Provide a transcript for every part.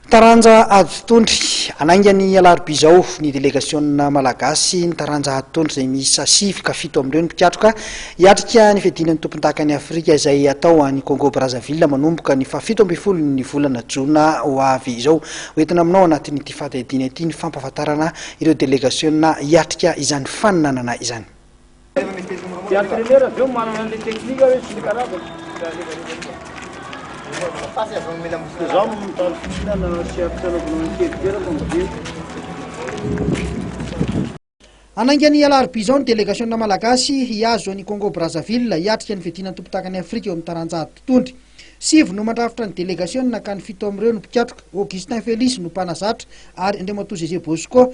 Taranja Aditondry, Hanainga ny alarobia izao ny delegasiona malagasy ny taranja Aditondry izay miisa sivy ka fito amin'ireo ny mpikatroka hiatrika ny fiadiana ny tompondakan'i Afrika izay hatao any Congo Brazzaville manomboka ny fahafito ambin'ny folo ny volana jona ho avy izao. Hoentina aminao anatin'ity fandiadiana ity ny fampahafantarana ireo delegasiona hiatrika izany faninanana izany. Dia entraîneur avy eo manana an'ilay technique hoe tsy mikarakara. Dia zaho no mitady fihinana sy ampitsanaovana ny kely kely fa mody. Hanainga ny alarobia izao ny delegasiona malagasy hihazo an'i Congo Brazzaville hiatrika ny fiadiana ny tompon-dakan'i Afrika eo amin'ny taranjahady mpitondra. Sivy no mandrafitra ny delegasiona ka ny fito amin'ireo no mpikatroka. Augustin Félix no mpanazatra ary Andriamatoa Zeze Bosco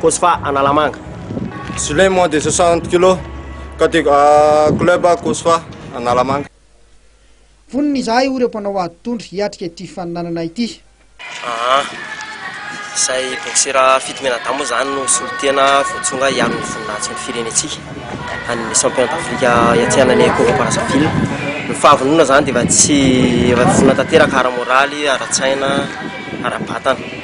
Cosfa Analamanga. Gilet moins de 60 kilos, catég club Cosfa Analamanga. Vonona izahay hoy ireo mpanao ady tondro hiatrika ity fifaninanana ity. Aa. Izay boksera fito mianadahy moa izany no solontena voatsonga hiaro ny voninahitsin'ny firenentsika any Championnat d'Afrique hiatrehana Congo Brazzaville. Ny fahavononana izany dia efa tsy, efa vonona tanteraka ara-moraly, ara-tsaina, ara-batana.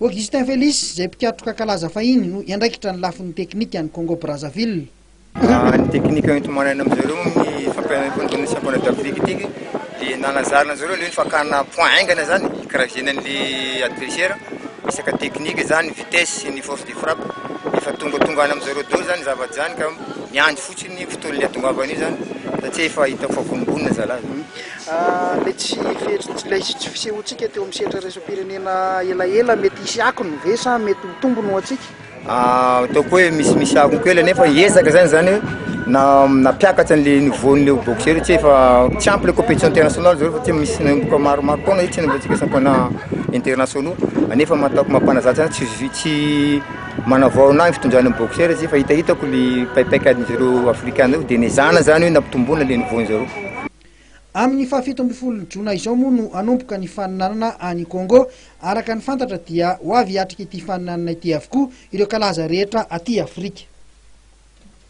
Augustin Félix, izay mpikatroka kalaza fahiny, no hiandraikitra ny lafiny teknika any Congo-Brazzaville. Raha ny teknika enti-manaina amin-dry zareo amin'ny fampiharana ny Tournoi Championnat d'Afrique ity dia nanazarana an-dry zareo ilay hoe fakana points haingana izany hikaraizena an'ilay adversaire, resaka teknika izany, vitesse sy ny force de frappe. Efa tongatonga any amin-dry zareo daholo izany ny zavatra izany ka miandry fotsiny ny fotoan'ny hahatongavan'io izany satria efa hitako fa vononvonona zalahy. Ilay tsy fihetsik- tsy ilay tsy fisehoantsika teo amin'ny sehatra iraisam-pirenena elaela mety hisy akony ve sa mety ho tombony ho antsika? Ataoko hoe misimisy akony kely anie fa ezaka zany zany hoe na nampiakatra an'le niveau-n'le boxeur io tsy efa tsy ampy le competition internationale zao fa tsy misy nanomboka maromaro taona io tsy nanaovantsika championnat internationaux anefa ma- ataoko mampanazatra zany tsisy vi- tsy manavao anahy ny fitondran'ny boxeur zay fa hitahitako le paipaika adin'zareo afrikana reo de nezahana zany hoe nampitomboina le niveau-n'zareo. Amin'ny fahafito ambin'ny folo jona izao moa no hanomboka ny faninanana any Congo. Araka ny fantatra dia ho avy hiatrika ity faninanana ity avokoa ireo kalaza rehetra aty Afrika.